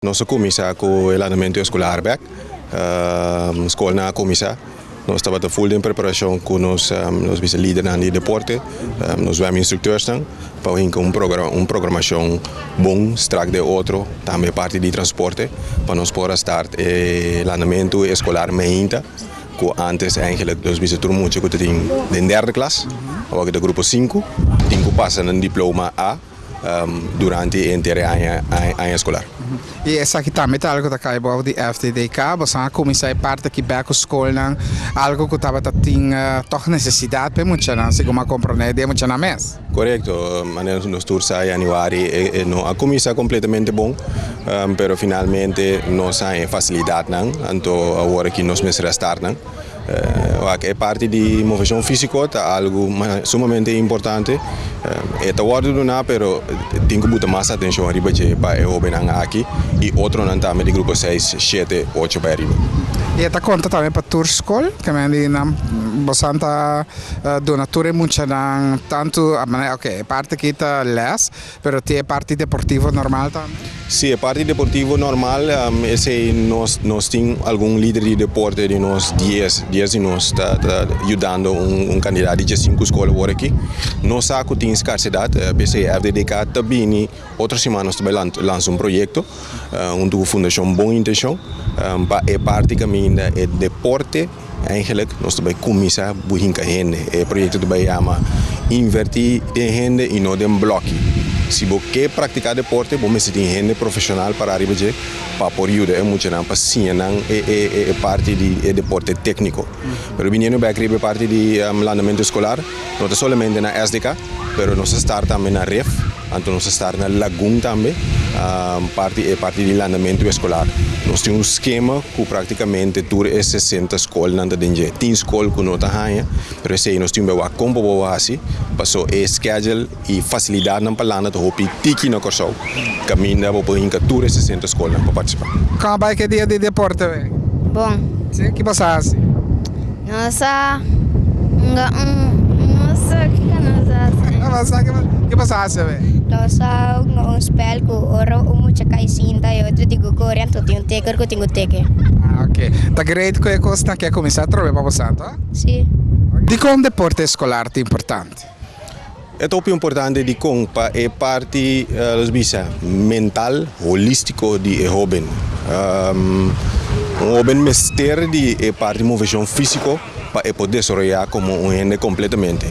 Nos a kuminsá ku e landamentu eskolar bèk. Skolnan a kuminsá. Nos tabata ful den preparashon ku nos bisa lidernan di deporte, nos zwèm instrukteursnan pa bin ku un programashon bon strak den otro, tambe e parti di transporte pa nos por a start e landamentu eskolar meinta ku ántes Angela nos bisa tur mucha ku ta tin den derde klas, awoka ta grupo sinku, tin ku pasa na diploma A. durante e entero aña eskolar. I esaki tambe ta algu ku ta kai bou di FDDK. Boso a kuminsá e parti aki bèk ku skolnan, algu ku tabata tin tòg nesesidat pa e muchanan, segun bo a komprondé di e muchanan mes. Korekto, manera nos tur sa yanüari no a kuminsá kompletamente bon, pero finalmente nos a haña e fasilidatnan, anto awor aki nos mester a start nan. Wak, e parti di moveshon físiko ta algu sumamente importante. E ta wòrdu duná pero tin ku bo ta mas atenshon riba dje pa e hóbennan aki i otronan tambe di grupo seis, shete, ocho bai riba. I e ta konta tambe pa tur skol ku nan di nan bosan ta duna tur e muchanan tantu a manera, oke e parti aki ta lès Pero tin e parti deportivo normal tambe? Si, e parti deportivo normal, esei nos nos tin algun lider di deporte den nos dies, dies di nos ta ta yudando un un kandidat di djesinku skol awor aki. Nos sa ku tin skarsidat, p'esei FDDK ta bini otro siman nos ta bai lan lansa un proyekto huntu ku Fundashon Bon Intenshon pa e parti kaminda e deporte, Eigenlijk nos ta bai kuminsá bui hinka hende. E proyekto ta bai yama Invertí den hende i no den blòkki. Si bo ke praktiká deporte, bo mester tin hende profeshonal para ariba dje pa por yuda e muchanan pa siña nan e parti di e deporte tékniko. Pero biniendo bèk riba e parti di landamentu eskolar, no ta solamente na SDK, pero nos a start tambe na ref. Anto nos a start na lagun tambe parti e parti di landamentu eskolar. Nos tin un skema ku praktikamente tur e sesenta skolnan ta den dje. Tin skol ku no ta haña, pero esei nos tin bewa kon por bo wou hasi pasó e skedjel i fasilidatnan pa landa ta hopi tiki na Kòrsou. Kaminda bo por hinka tur e sesenta skolnan pa partisipá. Kon a bai ke dia di deporte wei? Bon. Sí? Ki bo sa hasi? Nos a hunga un nos a kiko nos a hasi. Nos a kiko ke nos a hasi a ver. Nos a hunga un spel ku ora un mucha kai sinta e otro tin ku kore anto tin un teker ku tin ku teke. Ah ok ta great ku e kos na ke kuminsá atrobe pa bo santo a? Si. Dikon deporte eskolar ta importante? E ta hopi importante dikon pa e parti nos bisa mental holístiko di e hóben. Un hóben mester di e parti moveshon físiko pa e por desaroyá komo un hende kompletamente.